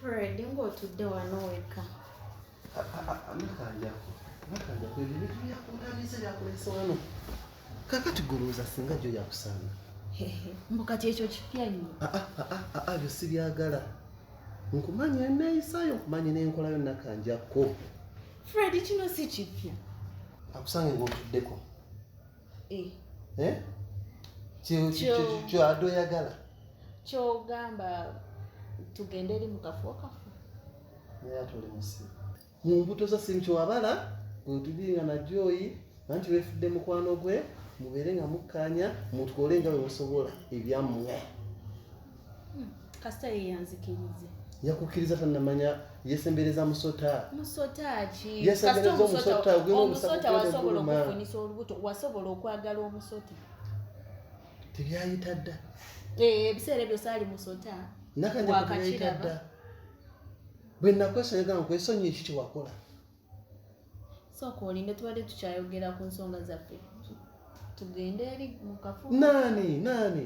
Fred ng'otudde wano wekka. Nakanjako, nakanjako ebyo ebintu byakundabiza byakulese wano. Kakati goloza singa gyo yakusanga. Mbu kati ekyo kipya nnyo. Ah, ah, ah, ah, ah, byo sibyagala. Nkumanyi eneeyisayo, nkumanyi n'enkolayo nakanjako. Fred kino si kipya. Akusange ng'otuddeko. eh. Eh? kyado oyagala kyogamba tugende eri mukafo kafo naye atuli musi mu mbuto za simu kyewabala ntulinga najoyi nanti wefudde mukwano gwe mubeere nga mukkaanya mutwole nga bwe musobola ebyammwe hmm, kasita yeyanzikirize yakukkiriza tanamanya yesembereza musota musotaomusota wasobola okufunisa olubuto wasobola okwagala omusota tebyayita dda eh, ebiseera ebyo saali musota nakanyakuyita dda bwe nakwesonyiga nkwesonyi eki kyewakola sooka olinde tubadde tukyayogera ku nsonga zaffe tugende eri mukafu naani naani